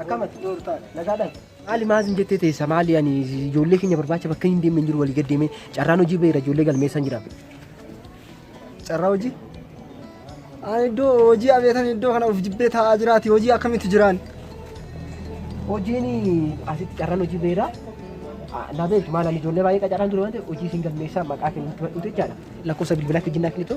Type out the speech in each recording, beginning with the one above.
Akkamati nagaadhaan. Maali maas hin jettee teessa maali ani ijoollee keenya barbaacha bakka hin deemne hin jiru walii gad deemee carraan hojii beera ijoollee galmeessan jira. Carraa hojii? Ani iddoo hojii abeetan iddoo kana of jibbee taa'aa jiraati hojii akkamitti jiraan? Hojiin asitti carraan hojii beera. Na beektu maal ani ijoollee baay'ee qacaraan ture waan ta'eef hojii isin galmeessaa maqaa kennu itti badhuute jechaadha. Lakkoofsa bilbilaa fi jinnaa kilitu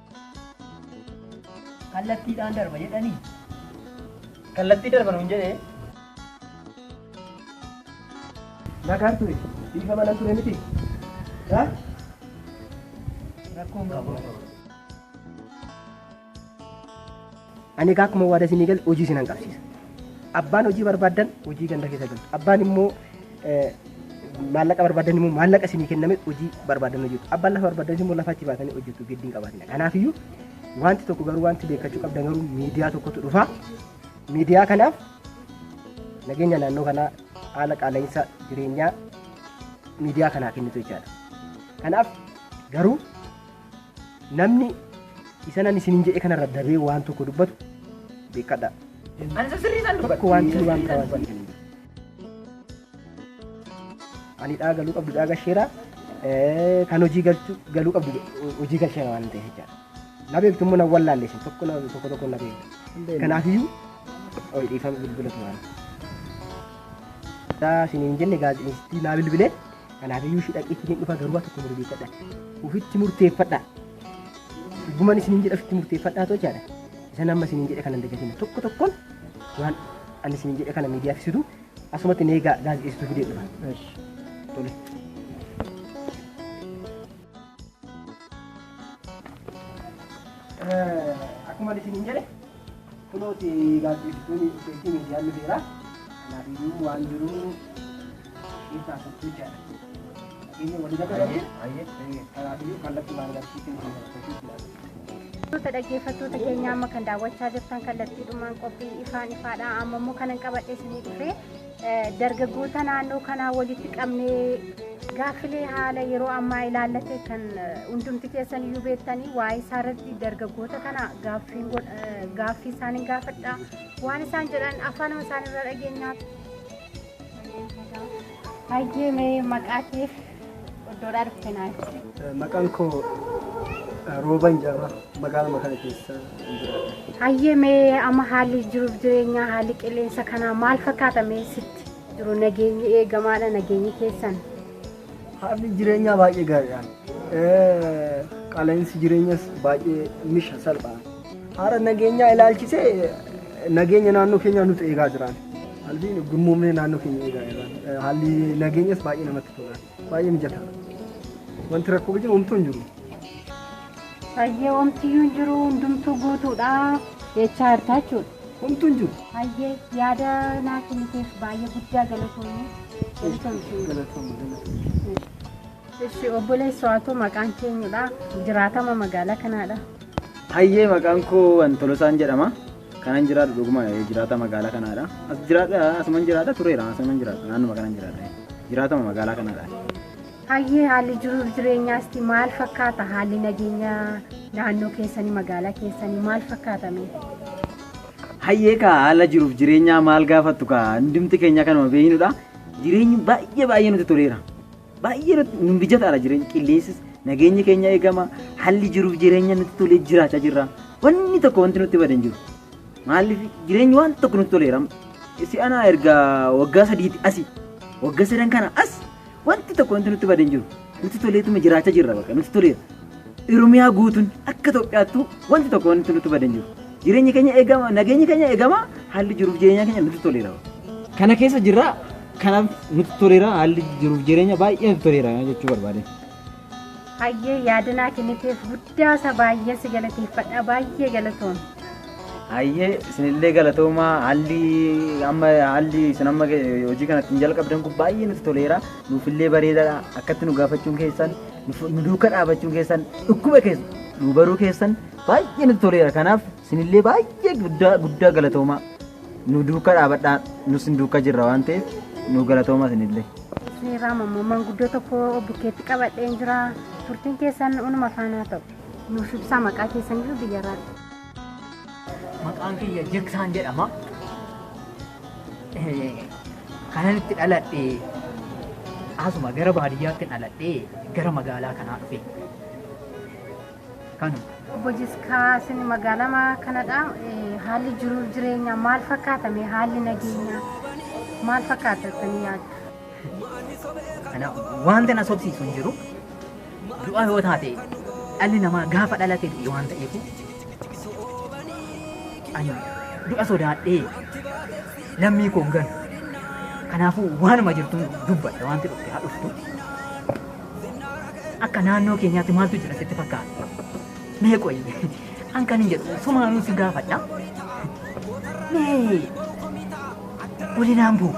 Kallattiidhaan darba jedhanii. Kallattii darba nuun jedhee. Nagaan ture. Biifa mana ture miti. Ha? Rakkoon qabu. Ani egaa akkuma waada isinii gale hojii isinan qabsiisa. Abbaan hojii barbaaddan hojii ganda keessa galtu. Abbaan immoo eh, maallaqa barbaaddan immoo maallaqa isinii kenname hojii barbaaddan hojjetu. Abbaan lafa barbaaddan immoo lafa achi baatanii hojjetu giddiin qabaatina. Kanaafiyyuu wanti tokko garuu wanti beekachuu qabdan garuu miidiyaa tokkotu dhufa. Miidiyaa kanaaf nageenya naannoo kanaa haala qaala'insa jireenyaa miidiyaa kanaa kennitu jechaadha. Kanaaf garuu Namni isa nan isinin jedhe kanarra dabee waan tokko dubbatu beekadha. Ansa sirrii san dubbadha. Tokko waan isin waan ta'an san. Ani dhaa galuu qabdu dhaa gasheera. Kan hojii galchu galuu qabdu hojii galcheera waan ta'eef jechaadha. Na beektu immoo na wallaalle isin tokko na tokko tokko na beektu. Kanaafiyyuu ol dhiifama bilbila turan. Daa isiniin jenne gaazexeessitii naa bilbilee. Kanaafiyyuu ishii dhaqee ittiin dhufa garuu waa tokko murteeffadha. Ufitti murteeffadha. Dhugumaan isiniin jedha ufitti murteeffadhaa too jaadha. Isan amma isiniin jedhe kana hin dagatina. Tokko tokkoon waan ani isiniin jedhe kana miidiyaaf ibsitu asumatti neegaa gaazexeessituu fidee dhufa. Tole. Akkuma isiniin jedhe kunooti gaazexeessitoonni dhufeetti miidiyaan ni beera. Kanaaf iyyuu waan jiru keessaa sochii jaadha. Inni walii gala galee kanaaf iyyuu kallattii waan agarsiisu ni beera. Dhaggeeffattoota dhaggeeffattoota keenya amma kan daawwachaa jirtan kallattiidhumaan qophii ifaan ifaadha. Amma immoo kanan qabadhe isinii dhufee Dargaggoota naannoo kanaa walitti qabnee gaaffilee haala yeroo ammaa ilaallate kan hundumti keessan iyyuu beektanii waa'ee isaa irratti dargaggoota kana gaaffii isaaniin gaafadha. Waan isaan jedhan afaanuma isaaniirra dhageenyaa. Hayyee mee maqaa keef Iddoodhaa dhufte naa ibsi. Maqaan koo Rooban jedhama. Magaaluma kana keessa jiraadha. Hayyee mee amma haalli jiruuf jireenyaa haalli qilleensa kanaa maal fakkaata mee sitti jiru nageenyi eegamaadha nageenyi keessan. Haalli jireenyaa baay'ee gaariidha. Qaala'insi jireenyas baay'ee misha salphaadha. Haala nageenyaa ilaalchisee nageenya naannoo keenyaa nuti eegaa jiraan. Haalli gurmuumnee naannoo keenya eegaa jiraan. Haalli nageenyas baay'ee namatti tola. Baay'ee mijataa. Wanti rakkoo jiru homtuu hin jiru. Hayyee omtiyyuu hin jiru hundumtuu guutuudha. Jechaa hartaa jechuudha. Homtuu hin jiru. Hayyee yaada naa kenniteef baay'ee guddaa galatoomii. Galatoomii. Galatoomaa. galatoomaa. Ishi obboleessi waatoo maqaan keenyudha. Jiraatama magaalaa kanaadha. Hayyee maqaan koo Antolosaan jedhama. Kanan jiraadhu dhuguma jiraata magaalaa kanaadha. As jiraadha asuman jiraadha tureera asuman jiraadha naannuma kanan jiraadha. Jiraatama magaalaa kanaadha. Hayyee haalli jiruuf jireenyaasti maal fakkaata? Haalli nageenya naannoo keessanii magaalaa keessanii maal fakkaata mee? Hayyee kaa haala jiruuf jireenyaa maal gaafattu kaa hundumti keenya kanuma beeknudha. Jireenyi baay'ee baay'ee nutti toleera. Baay'ee nut- nu mijataadha jireenya qilleensis nageenyi keenya eegama haalli jiruuf jireenya nutti tolee jiraachaa jirra wanni tokko wanti nutti bade hin jiru maaliif jireenyi waan tokko nutti toleera si'anaa erga waggaa sadiitti asi waggaa sadan kana as wanti tokko wanti nutti bade hin jiru nutti toleetuma jiraachaa jirra bakka nutti toleera Oromiyaa guutuun akka Itoophiyaattuu wanti tokko wanti nutti badan jiru. Jireenyi keenya eegama, nageenyi keenya eegama, haalli jiruuf jireenyaa keenya nutti toleera. Kana keessa jirra, kanaaf nutti toleera, haalli jiruuf jireenya baay'ee nutti toleera jechuu barbaade. Hayyee yaadinaa kenniteef guddaa isa baay'ee si galateeffadha baay'ee galatoon. Hayyee isinillee galatoomaa haalli amma haalli isin amma hojii kanatti hin jalqabdan kun baay'ee nutti toleera. Nuufillee bareedaadha akkatti nu gaafachuun keessan nu duuka dhaabachuun keessan dhukkuba keessa nu baruu keessan baay'ee nutti toleera kanaaf sinillee baay'ee guddaa guddaa galatoomaa nu duuka dhaabadhaa nu sin duuka jirra waan ta'eef nu galatoomaa sinillee. Seeraa mammamaan guddoo tokko bukkeetti qabadheen jira. Turtiin keessan unuma faanaa ta'u. Nuuf ibsaa maqaa keessan iyyuu biyyarraa. Maqaan kiyya Jiksaan jedhama. Kanan itti dhaladhe asuma gara baadiyyaatti dhaladhe gara magaalaa kanaa dhufe. Kanu Obbo Jiskaa isin magaalama kanadha. Eh, Haalli jiruuf jireenya maal fakkaata? Mee Haalli nageenyaa maal fakkaata isin yaaddu? Kanaaf wanta na sobsiisu hin jiru. Du'a yoo taate dhalli namaa gaafa dhalate du'e waan ta'eef ani du'a sodaadhee lammii koo hin ganu. Kanaafuu waanuma jirtu dubbadha wanti dhufte haa dhuftu. Akka naannoo keenyaatti maaltu jira sitti fakkaata? Mee qoyi an kan hin jedhu sumaanuu si gaafadha. Mee walinaan bu'u.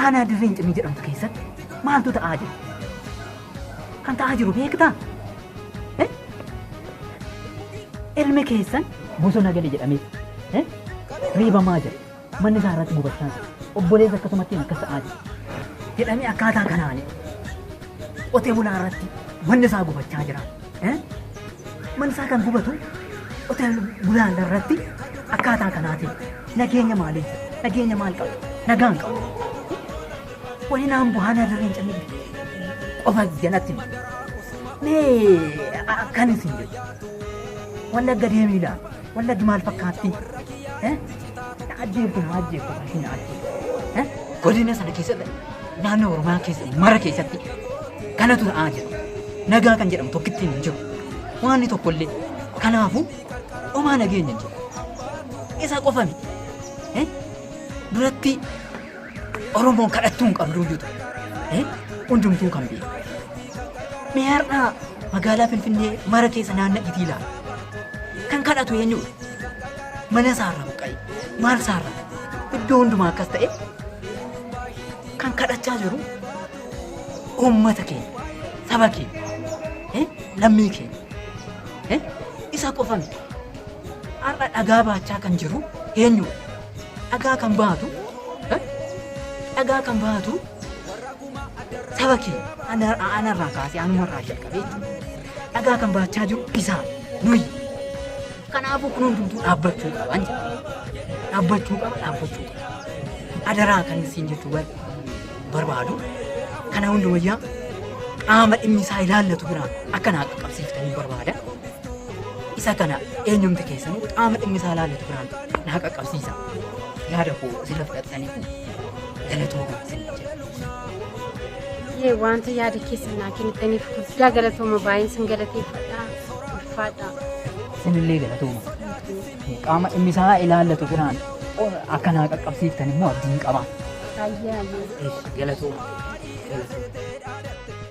Aanaa Dirree Incinnii jedhamtu keessatti maaltu ta'aa jira? Kan ta'aa jiru beektaa? Eh? Ilmi keessan bosona gale jedhamee eh? reebamaa jira. Manni isaa irratti gubachaa jira. Obboleessa akkasumatti akkas ta'aa jira. Jedhamee akkaataa kanaan qotee bulaa irratti manni isaa gubachaa jira. Mana isaa kan gubatu hotel Bulaalla irratti akkaataa kanaatiin nageenya maalii nageenya maal qabu nagaan qabu wani naan buhaan adarreen callee qofa jalatti mee akkan isin jedhu wallagga deemiidha wallaggi maal fakkaatti Na ajjeeftu na ajjeeftu ati na ajjeeftu. Godina sana keessatti naannoo Oromiyaa keessatti mara keessatti kanatu ta'aa jira. Nagaa kan jedhamu tokkittiin hin jiru. Waanni tokkollee kanaafuu omaa nageenya hin jiru. Isa qofa miti. Eh? Duratti Oromoon kadhattuu hin qabduu jiru. Hundumtuu kan beeku. Mee har'aa magaalaa Finfinnee mara keessa naanna itii ilaala. Kan kadhatu eenyudha? Mana isaarra buqqa'e. Maal isaarra? Iddoo hundumaa akkas ta'e kan kadhachaa jiru uummata keenya, saba keenya, eh, lammii keenya. eh, Isa qofa miti. Har'a dhagaa baachaa kan jiru eenyudha? dhagaa kan baatu eh, dhagaa kan baatu saba kee ana- anarraa kaasee anumarraa jalqabee jechuudha. dhagaa kan baachaa jiru isaa nuyi kanaafuu kun hundumtuu dhaabbachuu qaban jedha. dhaabbachuu qaba dhaabbachuu qaba adaraa kan isin jechuu bar- barbaadu kana hunda wayyaa qaama dhimmi isaa ilaallatu biraan akka naa qaqqabsiiftanii barbaada Isa kana eenyumti keessanuu qaama dhimmi isaa ilaallatu biraan naa qaqqabsiisa. Yaada koo sirra fudhattanii kun galatoomaa isin jedha. Yee wanta yaada keessan naa kennitaniif guddaa galatooma baay'een sin galateeffadha. Ulfaadha. Isinillee galatooma. Qaama dhimmi isaa ilaallatu biraan akka naa qaqqabsiiftan immoo abdiin qaba. Baay'ee baay'ee. Galatooma. Galatooma.